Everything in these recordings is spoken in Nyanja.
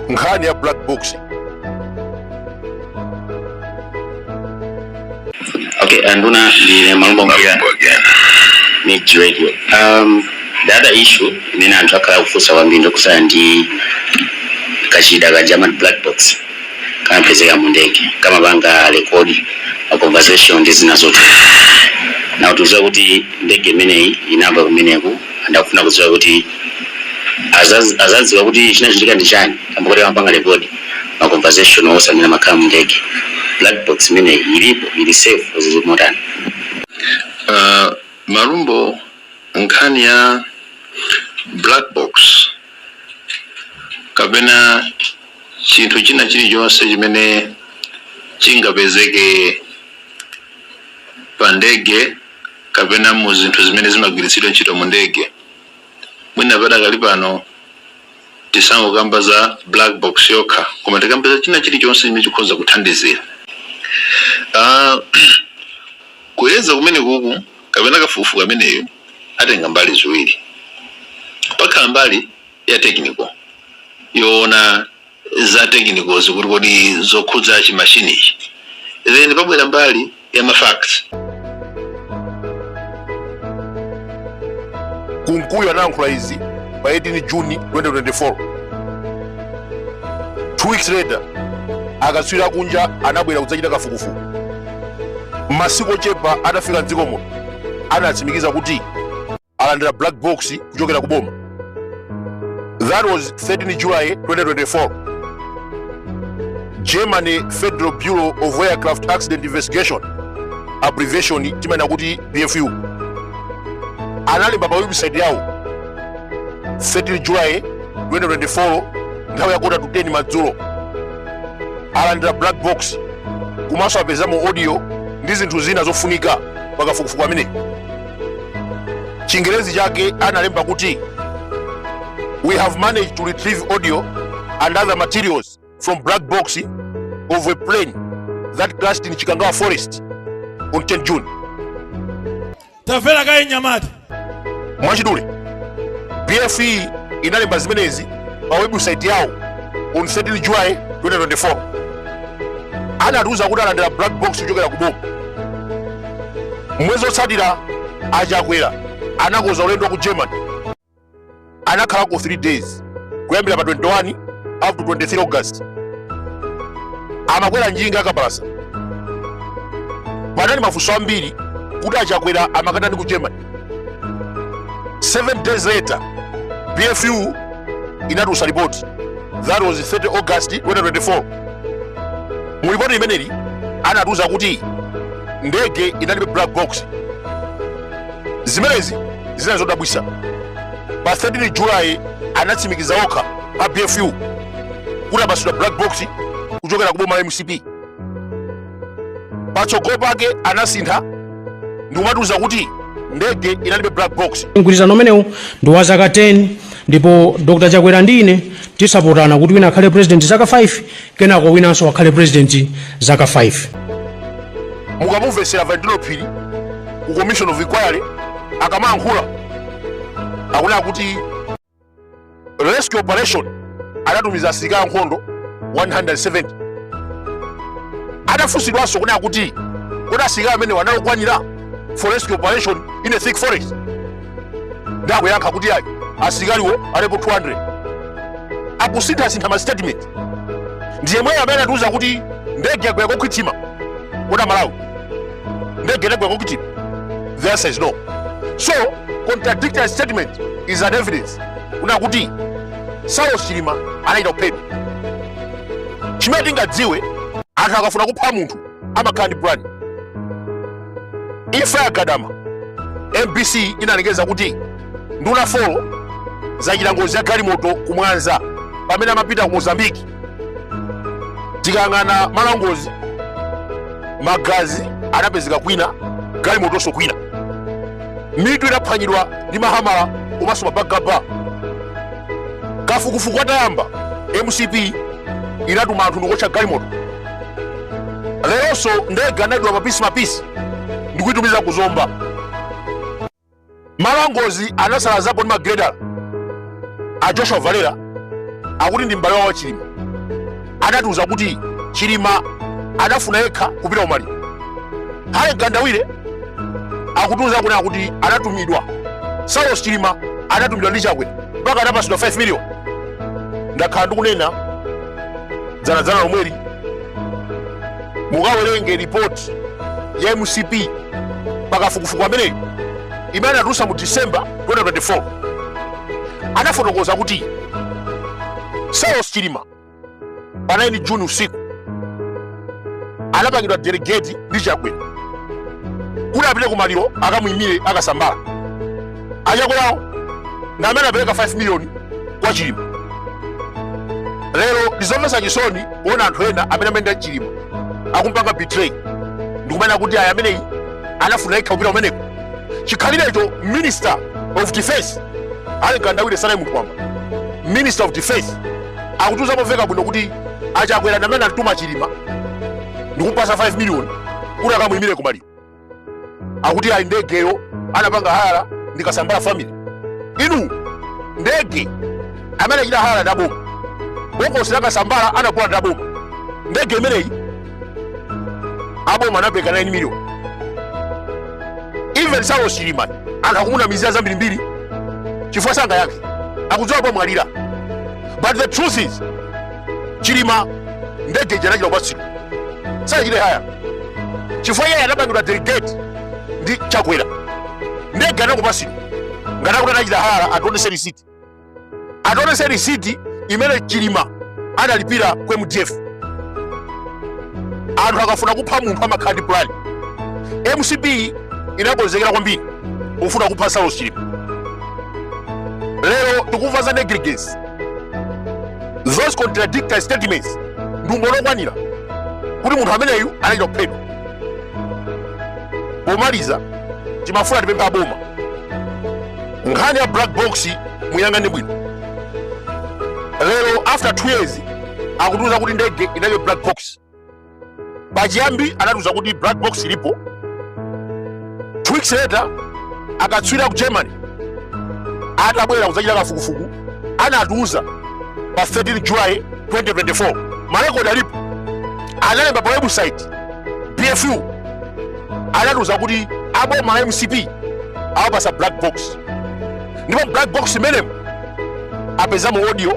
nkhani ya black box Okay, Anduna, ndine Malumbo Media Mix Radio. Um, the other issue, imene anthu akhala kufunsa kwambiri ndi yokhudzana ndi kachida kaja ka black box kamapezeka mu ndege kamapanga rekodi ma conversation ndi zina zote nawo kutiuza kuti ndege imeneyi inagwa kumeneku anthu akufuna kudziwa kuti azaz- azadziwa kuti chinachitika ndi chani kamba kuti kamapanga rekodi ma conversation onse amene amakhala mu ndege black box imeneyi ilipo ili safe zili motani Uh, Malumbo nkhani ya black box kapena chinthu china chilichonse chimene chingapezeke pa ndege kapena mu zinthu zimene zimagwiritsidwa ntchito mu ndege, mwina padakali pano tisangokamba za black box yokha, koma tikambe za china chilichonse chimene chikhoza kuthandizira Ah, kuyeza kumene kuku kapena kafukufuku ameneyu atenga mbali ziwiri pakhala mbali ya technical yoona za technical-zi kuti kodi zokhudza chi machine ichi then pabwera mbali ya ma facts kunkuyu anayankhula izi pa 18 juni 2024 two weeks later akatswiri akunja anabwera kudzachita kafukufuku masiku ochepa atafika mdziko muno anatsimikiza kuti alandira black box kuchokera ku boma that was 13 july 2024 german federal bureau of aircraft accident investigation abbreviation timanena kuti bfu analemba pa website yawo 13 july 2024 nthawi ya quarter to 10 madzulo alandira black box komanso apezamo audio ndi zinthu zina zofunika pakafukufuku ameneyu chingerezi chake analemba kuti we have managed to retrieve audio and other materials from black box of a plane that crashed in chikangawa forest on 10 june tamvera kaye nyamata mwachidule bfu inalemba zimenezi pa webusaiti yawo on 13 july 2024 anatiuza kuti alandira black box kuchokera ku boma mwezi otsatira achakwera anakoza ulendo wa ku germany anakhalako 3 days kuyambira pa 21 up to 23 august amakwera njinga akapalasa panali mafunso ambiri kuti achakwera amakatani ku germany 7 days later bfu inatulutsa report that was 30 august 2024 mu report imeneli anatiuza kuti ndege inalibe black box zimenezi zinali zodabwisa pa 13 july anatsimikiza okha a bfu kuti apasidwa black box kuchokera ku boma la mcp patsogolo pake anasintha ndikumatiuza kuti ndege inalibe black box mgwirizano umenewu ndi wa zaka 10 ndipo dr chakwera ndi ine tisapotana kuti wina akhale president zaka 5 kenako winanso akhale president zaka 5 mukamumvetsera valentino phiri ku commission of inquiry akamayankhula akunena kuti rescue operation anatumiza asilikali ankhondo 170 adafunsidwanso kunena kuti kodi asilikali amenewa anali okwanira for rescue operation in a thick forest ndi akuyankha kuti ayi asilikaliwo alipo 200 akusinthasintha ma statement ndiyemweyo amene atiuza kuti ndege yagwera kokhwima kodi amalawi ndege inagwa kokhwima the answer is no so contradictory statement is an evidence kuna kuti saulos chilima anachita kuphedwa chimene tingadziwe anthu akafuna kupha munthu amakhala ndi plan imfa ya gadama mbc inalengeza kuti nduna four zachita ngozi ya galimoto ku mwanza pamene amapita ku mozambiki tikayang'ana malo angozi magazi anapezeka kwina galimotonso kwina mitu inaphwanyidwa ndi mahamala komanso mabagaba kafukufuku atayamba mcp inatuma anthu ndikuotcha galimoto leronso ndege anadula mapisi mapisi ndikuitumiza ku zomba malo angozi anasalazapo ndi magreda a joshua valera akuti ndi m'bale wawo wa chilima anatiuza kuti chilima adafuna yekha kupita kumaliro hale mkandawire akutiuza kunena kuti anatumidwa saulos chilima anatumidwa ndi chakwera mpaka anapasidwa 5 million ndakhala ndikunena dzanadzana lomweli mukawerenge ripoti ya mcp pakafukufuku ameneyu imene anatulusa mu december 2024 anafotokoza kuti saulos chilima pa 9 juni usiku anapangidwa delegate ndi chakwera kuti apite kumaliro akamuyimire a kasambara achakwerawo ndi amene apereka 5 miliyoni kwa chilima lero ndizomvetsa chisoni kuona anthu ena amene amayenda ndi chilima akumpanga betray ndikumanena kuti ayi ameneyi anafuna yekha kupita kumeneko chikhalirecho minister of defense harry mkandawire sanali munthu wamba minister of defense akutiuza momveka bwino kuti achakwera ndi amene anatuma chilima ndikumpasa 5 miliyoni kuti akamuyimire kumaliro akuti ayi ndegeyo anapanga hayala ndi kasambara family inu ndege amene anachita hayala ndi aboma bokosi la kasambara anagula ndi aboma ndege imeneyi aboma anapereka 9 million even saulos chilima anthu akumunamizira zambirimbiri chifukwa sangayankhe akudziwa adamwalira but the truth is chilima ndege ija anachita kupatsidwa sanachite haya chifukwa iye anapangidwa delegate ndi chakwera ndege anachita kupatsidwa ngati akuti anachita haya ationetse risiti ationetse risiti imene chilima analipira ku mdf anthu akafuna kupha munthu amakhala ndi plan mcp inakonzekera kwambiri kufuna kupha saulos chilima lero tikumva za negligence those contradictory statements ndi umboni okwanira kuti munthu ameneyu anachita kuphedwa pomaliza timafuna tipemphe aboma nkhani ya black box muyang'ane bwino lero after 2 years akutiuza kuti ndege inalibe black box pachiyambi anatiuza kuti black box ilipo two weeks later akatswiri aku germany atabwera kudzachita kafukufuku anatiuza pa 13 july 2024 marekodi alipo analemba pa website bfu anatiuza kuti aboma la mcp awapasa black box ndipo black box imenemo apezamo audio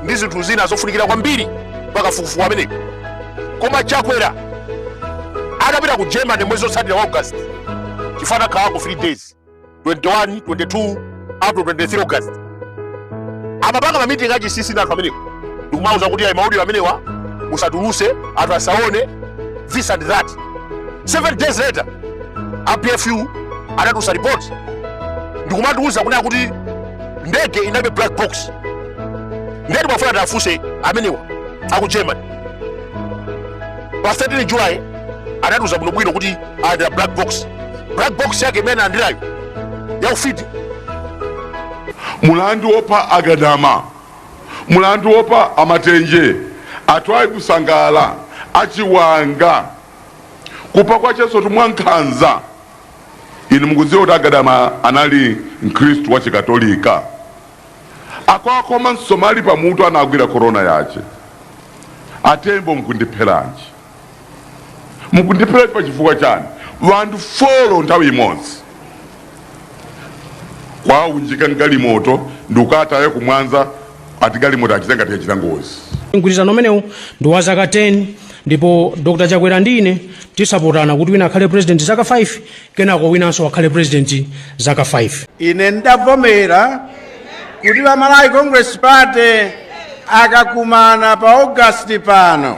ndi zinthu zina zofunikira kwambiri pakafukufuku ameneyo koma chakwera adapita ku germany mwezi wotsatira wa august chifukwa anakhalako 3 days 21 22 up to 23 august amapanga mamitingi achinsinsi ndi anthu amenewo ndikumauza kuti ayi maudio amenewa musatulutse anthu asaone this and that seven days later a bfu anatulutsa ripoti ndikumatiuza kunena kuti ndege inalibe black box nde timafuna tiwafunse amenewa aku germany pa 13 july anatiuza bwinobwino kuti alandira black box black box yake imene alandirayo ya ufiti mulandu wopha agadama mulandu wopha amatenje atwaibu sangala achiwanga kupha kwa Chasowatu mwankhanza inu mukudziwa kuti a Gadama anali mkhristu wa chikatolika akuwakhoma msomali pamutu anagwira korona yawo a Tembo mukundipheranji mukundipheranji pa chifukwa chani wanthu folo nthawi imodzi kuwaunjika m'galimoto ndikukawataya ku Mwanza ati galimoto achite ngati yachita ngozi mgwirizano umenewu ndi wa zaka 10 ndipo dr chakwera ndi ine tisapotana kuti wina akhale president zaka 5 kenako winanso akhale president zaka 5 ine ndavomera kuti a malawi congress party akakumana pa august pano